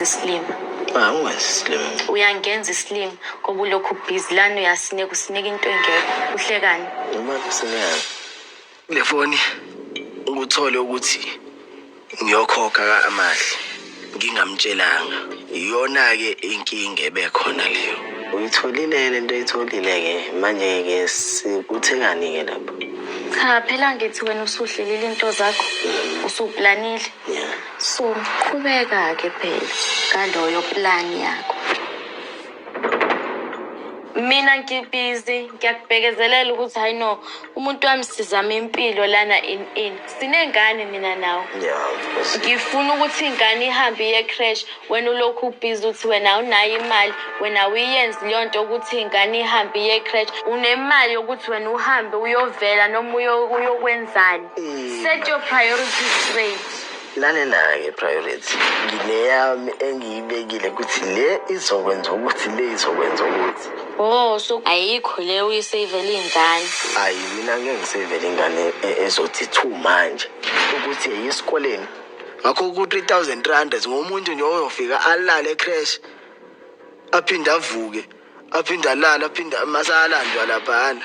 isilima Ah, ungazi isilima. uyangenza isilima ngoba ulokhu ubhizi lani uyasineka usineka into engekho uhlekani Noma kusingazi. Le foni ukuthole ukuthi ngiyokhokha ka-Amahle ngingamtshelanga. Iyona-ke inkinga ebekhona leyo. Uyitholile le nto oyitholile-ke manje-ke sikuthekani-ke lapho? cha phela ngithi wena usuhlelile into zakho usuplanile yeah. so qhubeka ke phela ngaloyo plan yakho mina ngibhizi ngiyakubekezelela ukuthi hayi no umuntu wami sizama impilo lana in in sinengane mina nawe ngifuna ukuthi ingane ihambe iye crash wena ulokhu ubhizi ukuthi wena awunayo imali wena uyenzi leyo nto ukuthi ingane ihambe iye crash unemali yokuthi wena uhambe uyovela noma uyokwenzani Set your priorities straight. Lalelake priority. Ngineyami engiyibekile ukuthi le izokwenza ukuthi le izokwenza ukuthi. Oh, so ayikho le uyisavele ingane. Ayi mina ngeke ngisavele ingane e- ezothi thu manje ukuthi eyisikoleni. Ngakho ku 3000 rand ngomuntu nje oyofika alale crash aphinde avuke aphinde alale aphinde masalandwa laphana.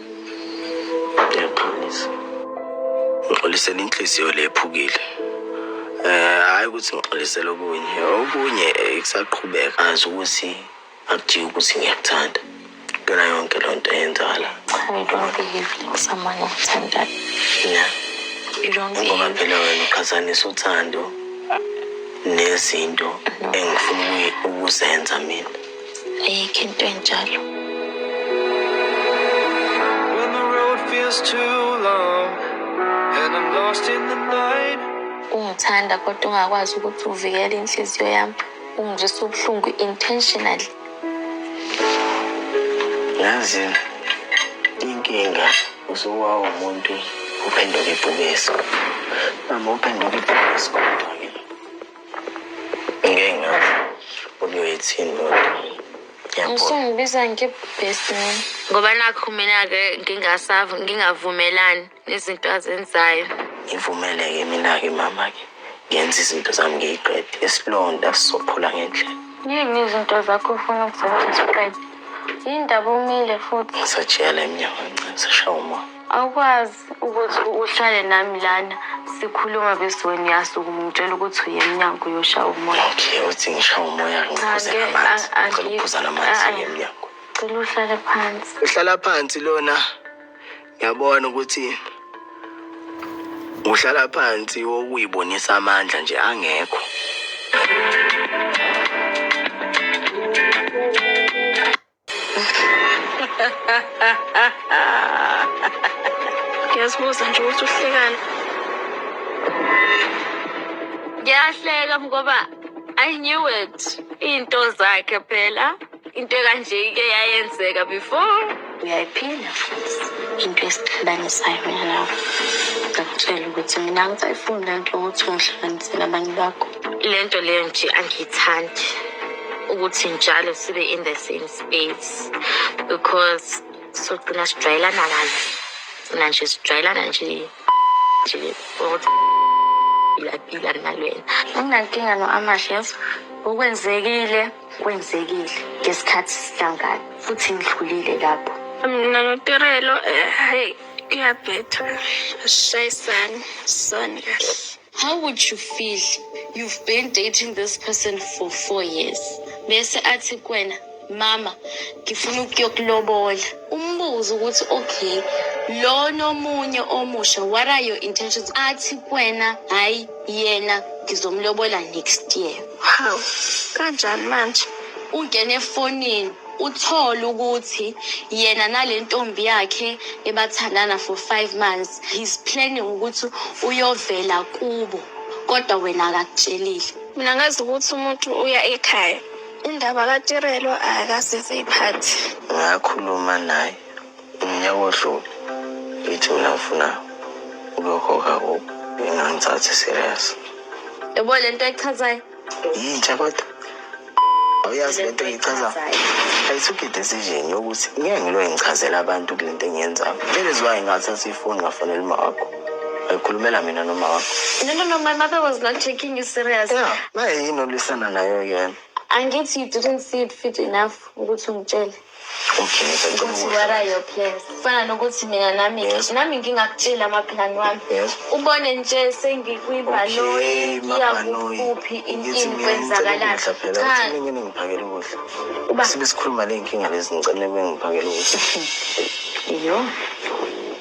Ngiyaxolisa. Ngixolisela inhliziyo le ephukile. Eh hayi ukuthi ngixolisela okunye. Okunye eh, kusaqhubeka. Azi ukuthi akujiki ukuthi ngiyakuthanda. Kuyona yonke le nto eyenzakala. I don't behave like someone othandayo. Yeah. You don't Ngoba behave. phela wena uqhathanisa uthando nezinto engifuna ukuyi- ukuzenza mina. Ayikho into enjalo. When the road feels too long and I'm lost in the night. Ungithanda kodwa ungakwazi ukuthi uvikele inhliziyo yami. Ungizwisa ubuhlungu intentionally. Yazi inkinga usuwa umuntu uphenduka ibhubesi. Mama uphenduka ibhubesi kodwa. ngeke ngazi ukuthi uyoyithini loo nto ngiyabona Usungibiza nge-best man. ngoba nakho mina-ke ngingasav- ngingavumelani nezinto azenzayo ngivumeleke mina-ke mama-ke ngenza izinto zami ngiyiqede isilonda sizophula ngendlela Yini izinto zakho ufuna ukuzenza uziqede? Yini ndaba umile futhi? ngisajiyela emnyango kancane sishaya umoya Awukwazi. ukuthi uhlale nami lana sikhuluma bese wena uyasukuma ungitshela ukuthi uye emnyango uyoshaya umoya okay uthi ngishaya umoya ngiphuze namanzi ngicela ukuphuza namanzi uye emnyango cela uhlale phansi uhlala phansi lona ngiyabona ukuthi uhlala phansi wokuyibonisa amandla nje angekho ngiyazibuza nje ukuthi uhlekani ngiyahleka ngoba i knew it iy'nto zakhe phela into ekanje ike yayenzeka before uyayiphila futhi into esixabanisayo mina nawe ngakutshela ukuthi mina ngisayifuni le nto yokuthi ungihlukaniselabanye bakho lento leyo nje angiyithandi ukuthi njalo sibe in the same space because sogcina sijwayelana kabi gcina nje sijwayelana nje nje kodwa ngiyapila nalwena anginankinga no-amash yes okwenzekile kwenzekile ngesikhathi sihlangana futhi ngidlulile lapho mina notirelo um eh, heyi kuyabhetha shayisani soni kahle How would you feel you've been dating this person for four years bese athi kwena mama ngifuna ukuyokulobola umbuzo ukuthi okay lona omunye omusha what are your intentions athi kwena hayi yena ngizomlobola next year hawu kanjani manje ungene efonini Uthole ukuthi yena nale ntombi yakhe ebathandana for five months he's planning ukuthi uyovela kubo kodwa wena akakutshelile. Mina ngazi ukuthi umuntu uya ekhaya. Indaba kaTirelo akasize iphathi. Ngakhuluma naye umnyaka odlule ngithi mina ngifuna ukuyokhokha kubo engangithathi serious. Yebo le nto echazayo. yintsha kodwa awuyazi lento engichazayo ayisugide esizini yokuthi ngeke ngilo engichazela abantu kule nto engiyenzayo that is why ngathatha ifoni ngafonela uma wakho wayikhulumela mina noma wakho No, no, no, my mother was not taking you serious. ya mayeyini olwisana nayo yena Angithi you didn't see it fit enough ukuthi ungitshele. ukuthi what are your plans kufana nokuthi mina nami Yes. nami ngingakutshela amaphilani wami Yes. ubone nje sengikwibhanoyi Okay, mabhanoyi. iyakuphi Ngithi intini mina ngicela kwenzakalani ukudla phela. cha Uthini ngini ngiphakele ukudla. Uba- Sibe sikhuluma ley'nkinga lezi ngicela nibe ngiphakele ukudla. yo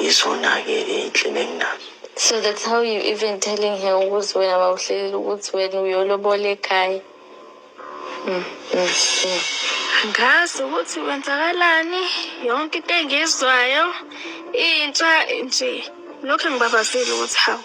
yizona-ke iy'nhlelo enginazo So that's how you even telling her ukuthi wena bawuhlelela ukuthi wena uyolobola ekhaya. Mm, mm, mm. Angazi ukuthi kwenzakalani yonke into engizwayo intsha nje lokho engibabazile ukuthi hawu.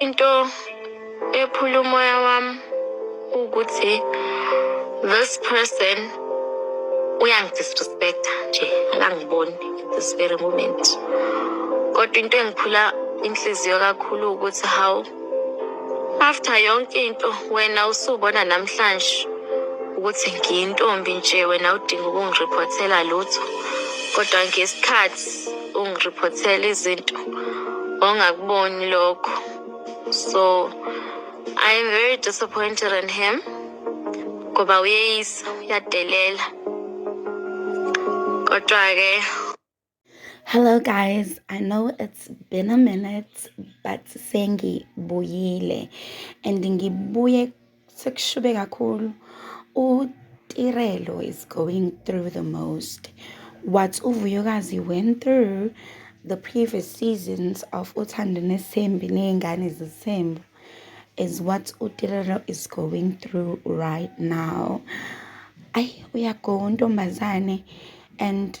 Into ephula umoya wami ukuthi this person uyangidisrespecta nje akangiboni at this very moment kodwa into engiphula inhliziyo kakhulu ukuthi how after yonke into wena usubona namhlanje ukuthi ngiyintombi nje wena udinga ukungirephothela lutho kodwa ngesikhathi ungiriphothela izinto ongakuboni lokho so i am very disappointed in him ngoba uyeyisa uyadelela kodwa-ke hello guys i know it's been a minute but sengibuyile and ngibuye Sekushube kakhulu. UTirelo is going through the most. What uVuyokazi went through the previous seasons of Uthando Nesembi Ney'ngane Zesembu is what uTirelo is going through right now. Ayi uyagona untombazane and